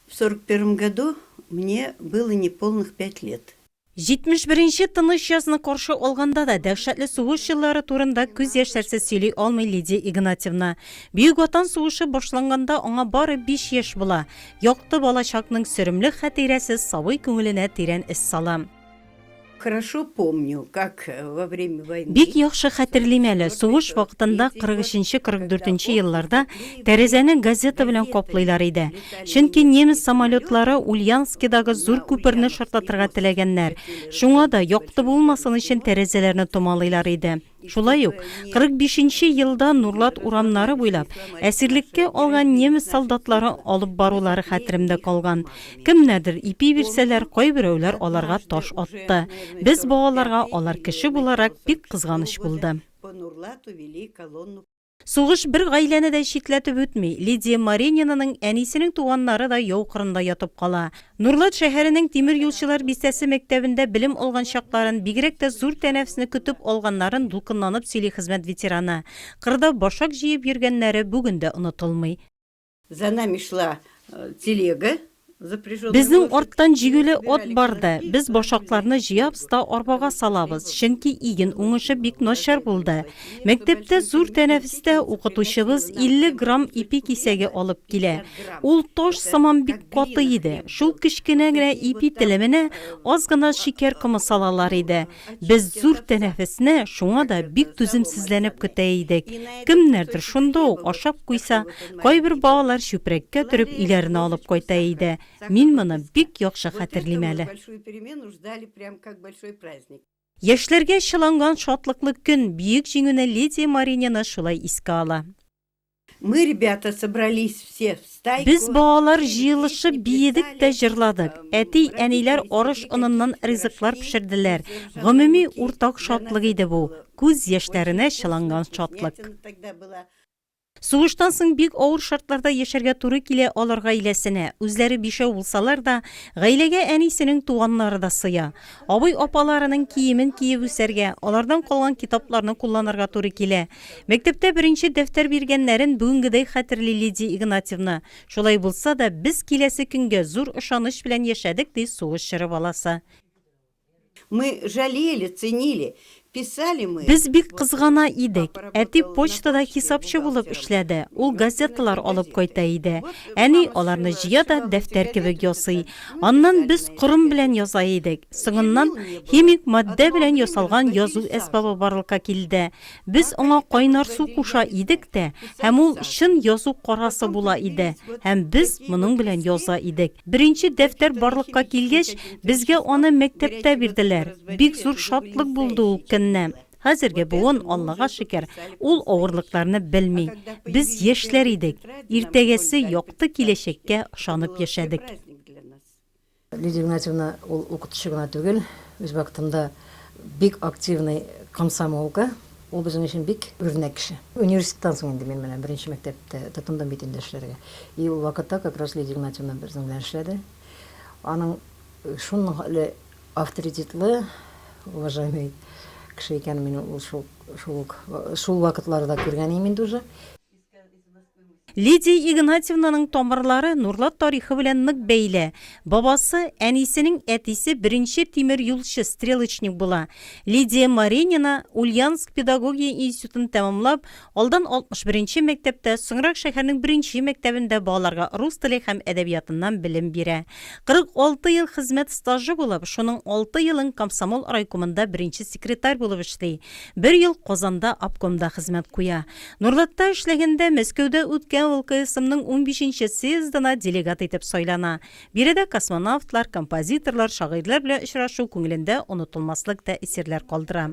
В сорок первом году мне было неполных пять лет. Җитмеш беренче тыныч язны каршы алганда да дәһшәтле сугыш еллары турында күз яшьләрсез сөйли алмый Лидия Игнатьевна. Бөек Ватан сугышы башланганда аңа бары биш яшь була. Якты балачакның сөремле хәтирәсе сабый күңеленә тирән эз сала. Бик яхшы хәтерлим әле, сугыш вакытында 43-44 елларда тәрәзәне газета белән каплыйлар иде. Чөнки немец самолетлары Ульянскидагы зур күперне шартлатырга теләгәннәр. Шуңа да, якты булмасын өчен, тәрәзәләрне томалыйлар иде. Шулай ук 45 нче елда Нурлат урамнары буйлап әсирлеккә алган немец солдатлары алып барулары хәтеремдә калган. Кемнәрдер ипи бирсәләр, кайберәүләр аларга таш атты. Без балаларга алар кеше буларак бик кызганыч булды. Сугыш бер гаиләне дә читләтеп үтми. Лидия Маренинаның әнисенең туганнары да яу кырында ятып кала. Нурлат шәһәренең Тимер юлчылар бистәсе мәктәбендә белем алган чакларын, бигрәк тә зур тәнәфесне көтеп алганнарын дулкынланып сөйли хезмәт ветераны. Кырда башак җыеп йөргәннәре бүген дә онытылмый. За нами шла телега. Безнең арттан җигүле от барды. Без башакларны җыябыз да арбага салабыз, чөнки иген уңышы бик начар булды. Мәктәптә зур тәнәфестә укытучыбыз 50 грамм ипи кисәге алып килә. Ул таш сыман бик каты иде. Шул кечкенә генә ипи телеменә аз гына шикәр комы салалар иде. Без зур тәнәфесне шуңа да бик түземсезләнеп көтә идек. Кемнәрдер шунда ук ашап куйса, кайбер балалар чүпрәккә төреп өйләренә алып кайта иде. Мин моны бик яхшы хәтерлим әле. Яшьләргә чыланган шатлыклы көн, Бөек Җиңүне Лидия Маринина шулай искә ала. Мы, ребята, собрались все в стайку. Без балалар җыелышып биедек тә җырладык. Әти-әниләр арыш оныннан ризыклар пешерделәр. Гомуми уртак шатлык иде бу. Күз яшьләренә чыланган шатлык. Сугыштан соң бик авыр шартларда яшәргә туры килә алар гаиләсенә. Үзләре бишәү булсалар да, гаиләгә әнисенең туганнары да сыя. Абый-апаларының киемен киеп үсәргә, алардан калган китапларны кулланырга туры килә. Мәктәптә беренче дәфтәр биргәннәрен бүгенгедәй хәтерли Лидия Игнатьевна. Шулай булса да, без киләсе көнгә зур ышаныч белән яшәдек, ди сугыш чоры баласы. Мы жалели, ценили, писали мы. Без бик кызгана идек. Әти почтада хисапчы булып эшләде, ул газеталар алып кайта иде. Әни аларны җыя да дәфтәр кебек ясый. Аннан без корым белән яза идек. Соңыннан химик матдә белән ясалган язу әсбабы барлыкка килде. Без аңа кайнар су куша идек тә, һәм ул чын язу карасы була иде, һәм без моның белән яза идек. Беренче дәфтәр барлыкка килгәч, безгә аны мәктәптә бирделәр. Бик зур шатлык булды ул көнне. Хәзерге буын, Аллага шөкер, ул авырлыкларны белми. Без яшьләр идек, иртәгәсе якты киләчәккә ышанып яшәдек. Лидия Игнатьевна ул укытучы гына түгел, үз вакытында бик активный комсомолка. Ул безнең өчен бик үрнәк кеше. Университеттан соң инде мин менә беренче мәктәптә тотындым бит инде эшләргә. И ул вакытта как раз Лидия Игнатьевна безнең белән эшләде. Аның шунхале авторитетлы, уважаемый кеше икәнен мин ул шул шул ук шул вакытларда күргән идем инде уже. Лидия Игнатьевнаның тамырлары Нурлат тарихы белән нык бәйле. Бабасы, әнисенең әтисе беренче тимер юлчы, стрелочник була. Лидия Маринина Ульяновск педагогия институтын тәмамлап, алдан 61 нче мәктәптә, соңрак шәһәрнең беренче мәктәбендә балаларга рус теле һәм әдәбиятыннан белем бирә. 46 ел хезмәт стажы булып, шуның алты елын комсомол райкомында беренче секретарь булып эшли, бер ел Казанда обкомда хезмәт куя. Норлатта эшләгәндә Мәскәүдә үткән ВЛКСМның унбишенче съездына делегат итеп сайлана. Биредә космонавтлар, композиторлар, шагыйрьләр белән очрашу күңелендә онытылмаслык тәэсирләр калдыра.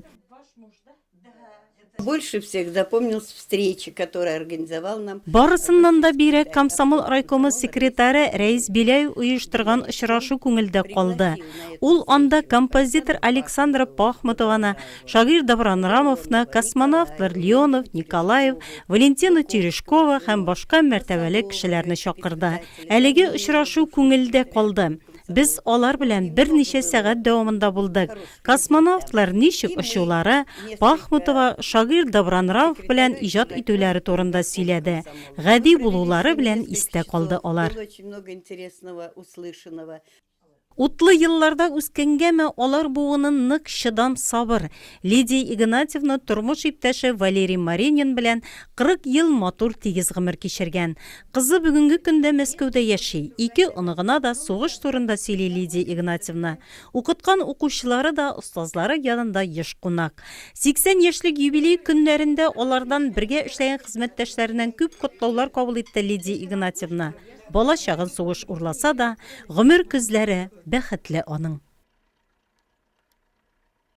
Больше всех запомнилась встреча, которая организовал нам. Барысыннан да бигрәк комсомол райкомы секретаре Рәис Беляев оештырган очрашу күңелдә калды. Ул анда композитор Александра Пахмутованы, Шагыйрь Давран Рамовны, космонавтлар Леонов, Николаев, Валентина Терешкова һәм башка мәртәбәле кешеләрне чакырды. Әлеге очрашу күңелдә калды. Без алар белән берничә сәгать дәвамында булдык. Космонавтлар ничек очулары, Пахмутова шагыйрь Давран Рамов белән иҗат итүләре турында сөйләде. Гади булулары белән истә калды алар. Утлы елларда үскәнгәме, алар буынын нык чыдам сабыр Лидия Игнатьевна тормыш иптәше Валерий Маринин белән 40 ел матур тигез гомер кичергән. Кызы бүгенге көндә Мәскәүдә яши. Ике оныгына да сугыш турында сөйли Лидия Игнатьевна. Укыткан укучылары да, остазлары янында еш кунак. 80 яшьлек юбилей көннәрендә алардан бергә эшләгән хезмәттәшләреннән күп котлаулар кабул итте Лидия Игнатьевна. Бала чагын сугыш урласа да, гомер көзләре бәхетле аның.